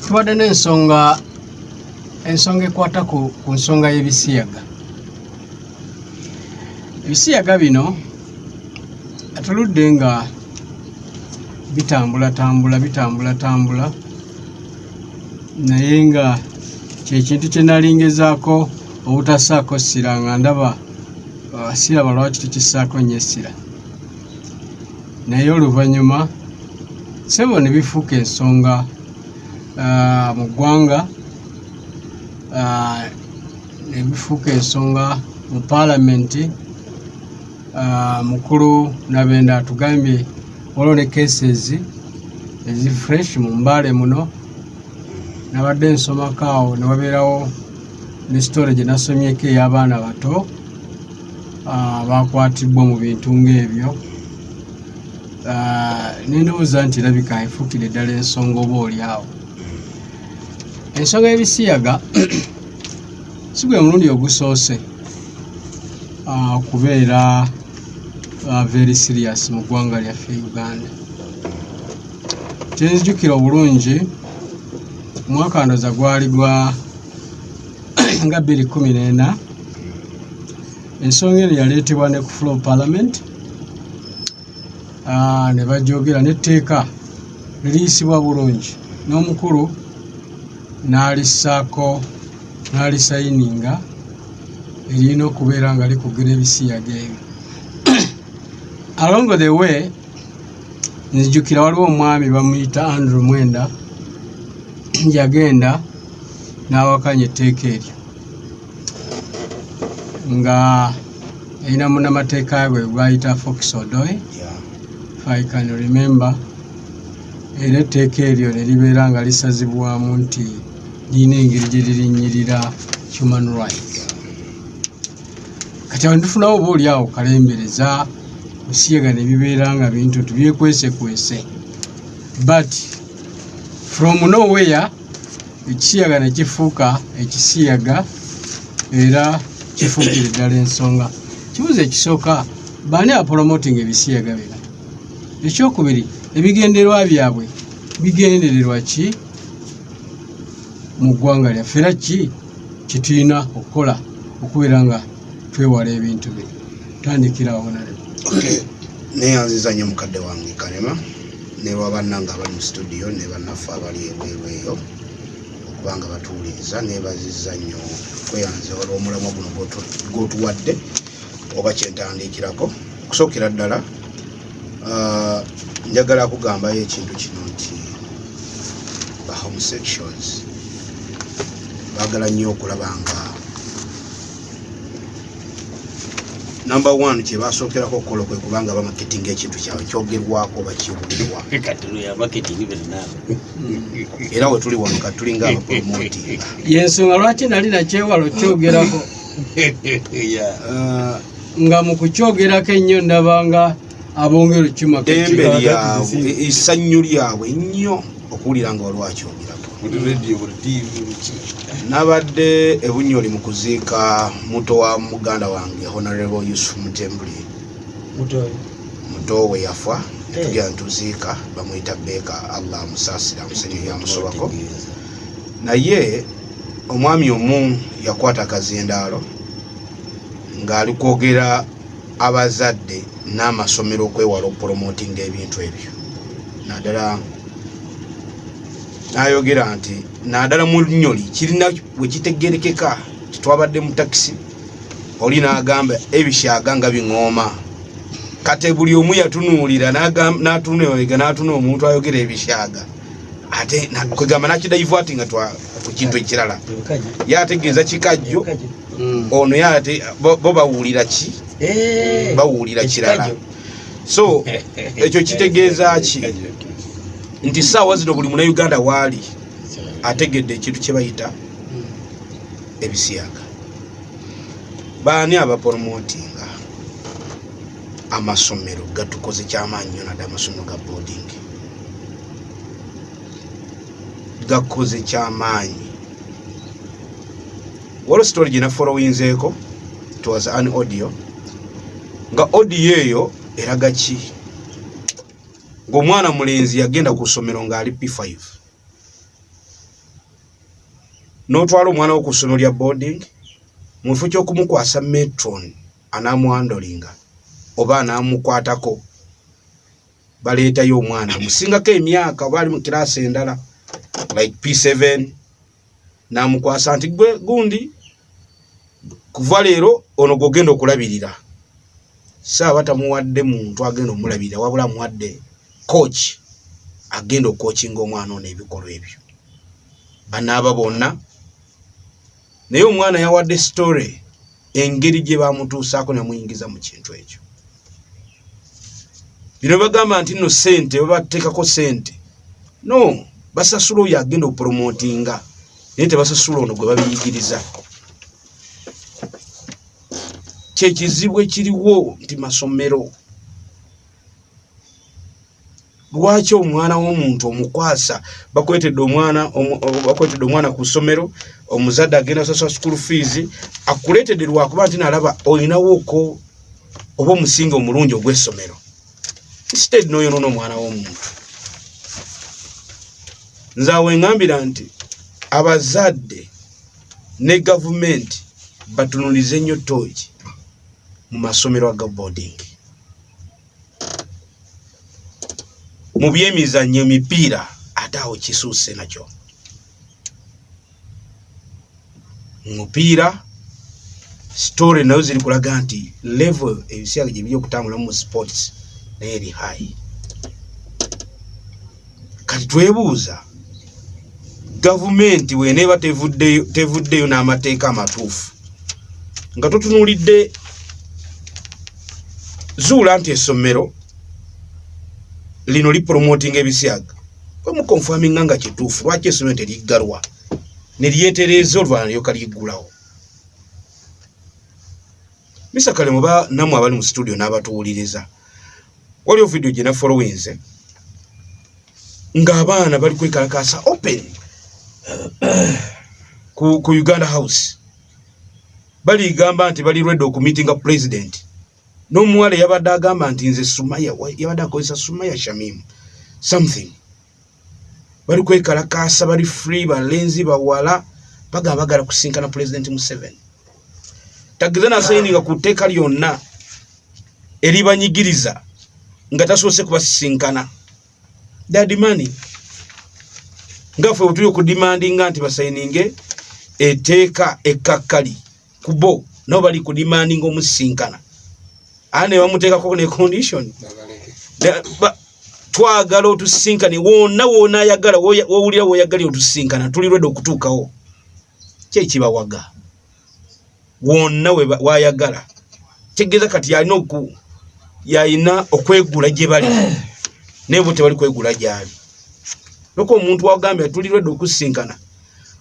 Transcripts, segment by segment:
tubadde n'ensonga ensonga ekwata ku nsonga y'ebisiyaga ebisiyaga bino atuludde nga bitambulatambula bitambulatambula naye nga kyekintu kyenalingezaako obutasaako ssira nga ndaba abasiraba lwaki tukisaako nyo essira naye oluvannyuma sebo ne bifuuka ensonga ah, mu ggwanga ah, ne bifuuka ensonga mu paalamenti ah, mukulu nabenda atugambye waliwo ne cases ezi fresh mu mbaale muno nabadde nsomako awo ne wabeerawo ne story gye nasomyeko ey'abaana bato abaakwatibbwa mu bintu ng'ebyo ah, nendowooza nti erabika efuukire ddala ensonga oba oli awo ensonga y'ebisiyaga si gwe mulundi ogusoose ah, okubeera ah, very serious mu ggwanga lyaffe uganda kyenzijukira obulungi omwaka ndoza gwali gwa nga bbiri kumi n'ena ensonga eno yaleetebwa ne ku flow parliament ah, ne bajogera n'etteeka liriyisibwa bulungi n'omukulu n'alissaako n'alisayininga erina okubeera nga likugira ebisiyaga ebyo along the way nzijukira waliwo omwami bamuyita andrew mwenda yagenda n'awakanya etteeka eryo nga yalina munamateeka we gwayita fox odoy i can remember era etteeka eryo ne libeera nga lisazibwamu nti lirina engeri gye lirinyirira human rights kati awo nitufunawo oba oli awo kalembereza osiyaga ne bibeera nga bintu tubyekwese kwese but from nowhere ekisiyaga ne kifuuka ekisiyaga era kifuukira ddala ensonga kibuuzo ekisooka baani apolomotinga ebisiyaga bino ekyokubiri ebigenderwa byabwe bigendererwa ki mu ggwanga lyaffe era ki kyetulina okukola okubeera nga twewala ebintu bino tandikirawo nalema neyanziza nyo mukadde wange kalema newa bannange abali mu situdiyo ne bannaffe abali ebweru eyo okuba nga batuwuliriza nebaziza nnyo kweyanza olw'omulamwa guno gwotuwadde oba kyentandiikirako okusookera ddala ah, njagala kugambayo ekintu kino nti ba homosexuals bagala nnyo okulaba nga namba one kyebasookerako okukola kwe kubanga bamaketinga ekintu kyabwe kyogerwako bakiwulirwa era we tuli wano kati tulinga abapromoti yensonga lwaki nali nakyewalo kyogerako uh, nga mu kukyogerako ennyo ndabanga abongera ekima dembe lyabwe esannyu lyabwe ennyo okuwulira nga waliwo akyogeraku nabadde ebunyoli mu kuziika muto wa muganda wange honorable yusuf mutembuli muto we yafa netugera eh. ntuziika bamuyita beeka allah amusaasira amusenyo yamusobako naye omwami omu yakwata akazindaalo ng'ali kwogera abazadde n'amasomero okwewala okupolomootinga ebintu ebyo naddala n'ayogera nti naddala mu lunyoli kirina we kitegerekeka tetwabadde mu takisi oli n'agamba ebisyaga nga biŋooma kati buli omu yatunuulira n'atunula emabega n'atuna omuntu ayogera ebisyaga ate kwegamba nakidaivu ati nga ku kintu ekirala yategeeza kikajjo mm. ono ye ate bo bawulira ki eh, bawulira kirala so ekyo kitegeeza ki nti saawa zino buli muna uganda waali ategedde ekintu kyebayita ebisiyaga baani abaporomotinga amasomero gatukoze kyamaanyi nyo nadde amasomero ga boarding gakoze kyamaanyi waliwo story gye nafolowinzeeko it was an audio nga audio eyo eraga ki ng'omwana mulenzi yagenda ku ssomero ng'ali p5 n'otwala omwana wo ku ssomero lya boarding mu kifo ky'okumukwasa metron anamwandolinga oba anamukwatako baleetayo omwana musingako emyaka oba ali mu kiraasi endala like p7 n'amukwasa nti gwe gundi kuva leero ono gwogenda okulabirira saaba tamuwadde muntu agenda omulabirira wabula amuwadde coach agenda okokinga omwana ono ebikolwa ebyo banaaba bonna naye omwana yawadde story engeri gye bamutuusaako namuyingiza mu kintu ekyo bino bagamba nti no sente babateekako sente no basasula oyo agenda okupromotinga naye tebasasula ono gwe babiyigiriza kyekizibu ekiriwo nti masomero lwaki omwana w'omuntu omukwasa bakwetedde omwana bakwetedde omwana ku ssomero omuzadde agenda sasula school fees akuleetedde lwakuba nti nalaba olinawooko oba omusinga omulungi ogw'essomero instead noyonoona omwana w'omuntu nze awo engambira nti abazadde ne gavumenti batunulize nnyo tooki mu masomero aga boarding mu byemizannyo emipiira ate awo kisuuse nakyo mupiira story nayo ziri kulaga nti level ebiseera gyebiri okutambulamu mu sports naye eri high kati twebuuza gavumenti bweneeba tevuddeyo n'amateeka amatuufu nga totunuulidde zuula nti essomero lino lipromotinga ebisiyaga kwemukonfaminga nga kituufu lwaki essomero teriggalwa ne lyetereeza olwanalyoka liggulawo Mr. Kale muba namwe abali mu studio n'abatuwuliriza waliwo vidiyo gye nafolowinze ng'abaana bali kwekalakaasa open ku, ku uganda house baligamba nti bali redi okumitinga pulezidenti n'omuwala yabadde agamba nti nze sumaya yabadde akozesa sumaya shamimu something bali kwekalakaasa bali free balenzi bawala baga bagala kusinkana pulezidenti museveni tagize nasayininga ku tteeka lyonna eribanyigiriza nga tasoose kubasisinkana dadimani nga ffe wetuli okudimandinga nti basayininge etteeka ekkakkali kubo nabo bali ku demanding omusisinkana aa ne bamuteekako ne condition twagala otusisinkane wonna wona ayagala wowulira woyagalira otusisinkana tuli rwede okutuukawo kyekibawaga wonna wayagala tegeeza kati yalina oku yalina okwegula gye bali naye bo tebali kwegula gyali noka omuntu wagambye tuli rwede okusisinkana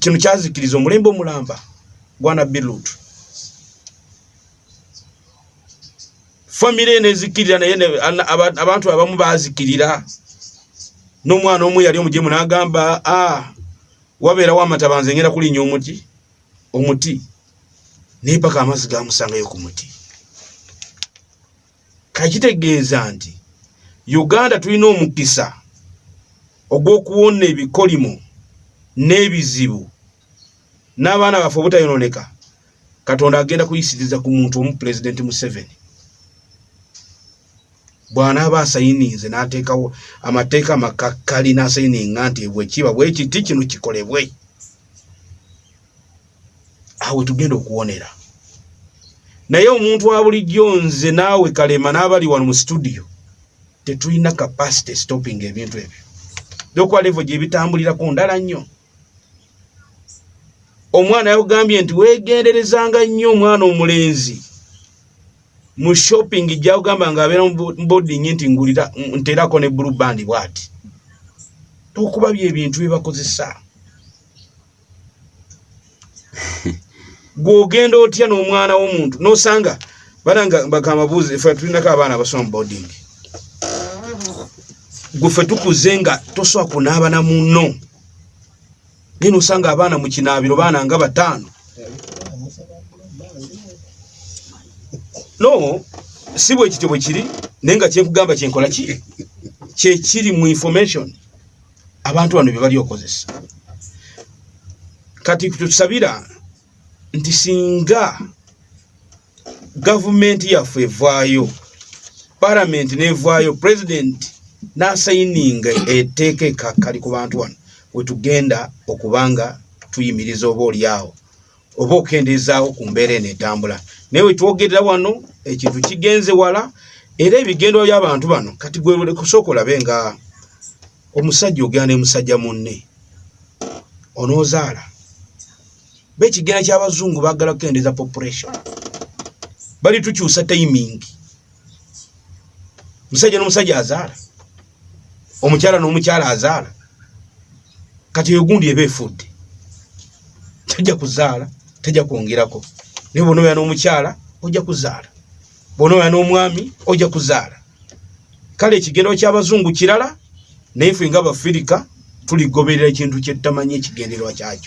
kino kyazikiriza omulembe omulamba gwanabbi lutu famire nezikirira naye abantu abamu bazikirira n'omwana omu yali omujemu n'agamba a ah, wabeerawo amataba nze ngenda kulinya omuti omuti naye paka amazzi gamusangayo ku muti kakitegeeza nti uganda tulina omukisa ogw'okuwona ebikolimo n'ebizibu n'abaana baffe obutayononeka katonda agenda kuyisiriza ku muntu omu pulezidenti museveni bw'anaaba asayininze n'ateekawo amateeka amakakkali n'asayininga nti bwekiba bwekiti kino kikolebwe awo tugenda okuwonera naye omuntu wa bulijjo nze naawe kalema n'abali wano mu situdiyo tetulina capacity stopping ebintu ebyo dokwa levo gyebitambulirako ndala nnyo omwana yakugambye nti wegenderezanga nnyo omwana omulenzi mu shopping jakugamba nga abeera muboding nti ngulira nterako ne blue band bwati tokuba byebintu byebakozesa gwogenda otya n'omwana w'omuntu nosanga bananga bakamabuuzi fe tulinako abaana abasoma boarding gwefe tukuze nga tosobola kunaaba na muno naye nosanga abaana mu kinaabiro baana nga bataano no si bwekityo bwe kiri naye nga kyenkugamba kyenkola ki kyekiri mu information abantu bano bye bali okozesa kati tusabira nti singa gavumenti yaffe evaayo paramenti nevaayo pulezidenti n'asayininga etteeka ekakkali ku bantu wano wetugenda okubanga tuyimiriza oba olyawo oba okendeezaawo ku mbeera eno etambula naye wetwogerera wano ekintu kigenze wala era ebigendo by'abantu bano kati gwekusooka olabe nga omusajja ogenda ne musajja munne onoozaala be ekigenda ky'abazungu baagala kukendeeza population bali tukyusa timing musajja nomusajja azaala omukyala nomukyala azaala kati eyo gundi eba efudde tajja kuzaala tajja kwongerako naye bona oya nomukyala ojja kuzaala bona oya nomwami ojja kuzaala kale ekigendero kyabazungu kirala naye fe nga abafirika tuligoberera ekintu kyetutamanyi ekigendererwa kyakyo